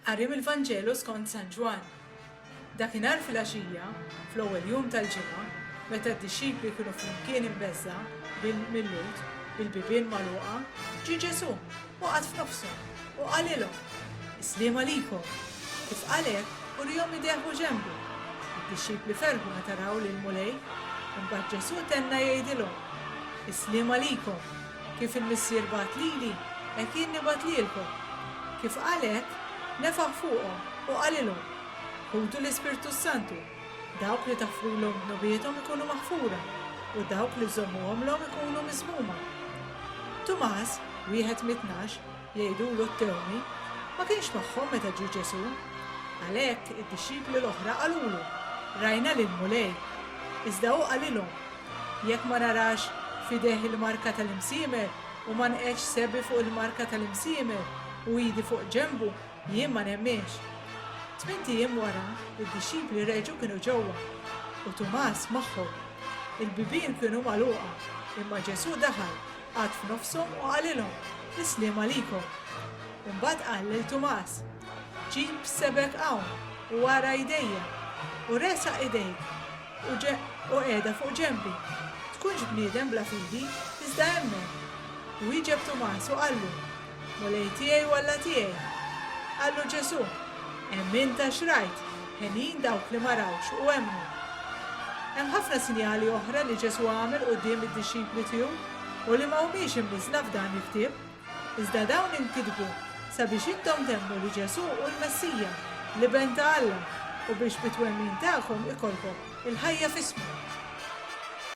Qari mill-Vanġelu skont San Ġwann. Dakinhar filgħaxija, fl-ewwel jum tal-ġimgħa, meta d-dixxipli kienu flimkien imbeżżgħa bil-Lhud, bil-bibien magħluqa, ġie Ġesù u qagħad f'nofshom, u qalilhom, Is-sliem għalikom! Kif qal hekk, uriehom idejh u ġenbu. Id-dixxipli ferħu meta raw lill-Mulej. Imbagħad Ġesù tenna jgħidilhom, Is-sliem għalikom! Kif il-Missier bagħat lili, hekk jien nibgħat lilkom. Kif qal hekk, nefaħ fuqhom u qalilhom, Ħudu l-Ispirtu s-Santu, dawk li taħfrulhom dnubiethom ikunu maħfura, u dawk li żżommuhomlhom ikunu miżmuma. Tumas, wieħed mit-tnax, Jgħidulu t-tewni, Ma kienx magħhom meta ġie Ġesù. Għalhekk, id-dixxipli l-oħra qalulu, Rajna lill-Mulej. Iżda hu qalilhom, Jekk ma narax f'idejh il-marka tal-imsiemer u ma nqegħdx sebi fuq il-marka tal-imsiemer u idi fuq ġenbu, jien ma nemminx. Tmint ijiem wara, id-dixxipli reġgħu kienu ġewwa, u Tumas magħhom. Il-bibien kienu magħluqa, imma Ġesù daħal qagħad f'nofshom u qalilhom, Is-sliem għalikom. Imbagħad qal lil Tumas, Ġib sebgħek hawn u ara idejja, u resaq idejk u qiegħda fuq ġenbi. Tkunx bniedem bla fidi, iżda emmen. Wieġeb Tumas u qallu, Mulej tiegħi u Alla tiegħi! Qallu Ġesù, Hemm int għax rajt, henjin dawk li ma rawx u emmnu. Hemm ħafna sinjali oħra li Ġesù għamel quddiem id-dixxipli tiegħu u li ma humiex imniżżla f'dan il-ktieb, iżda dawn inkitbu sabiex intom temmnu li Ġesù hu l-Messija, l-Iben ta' Alla, u biex bit-twemmin tagħkom ikollkom il-ħajja f'ismu.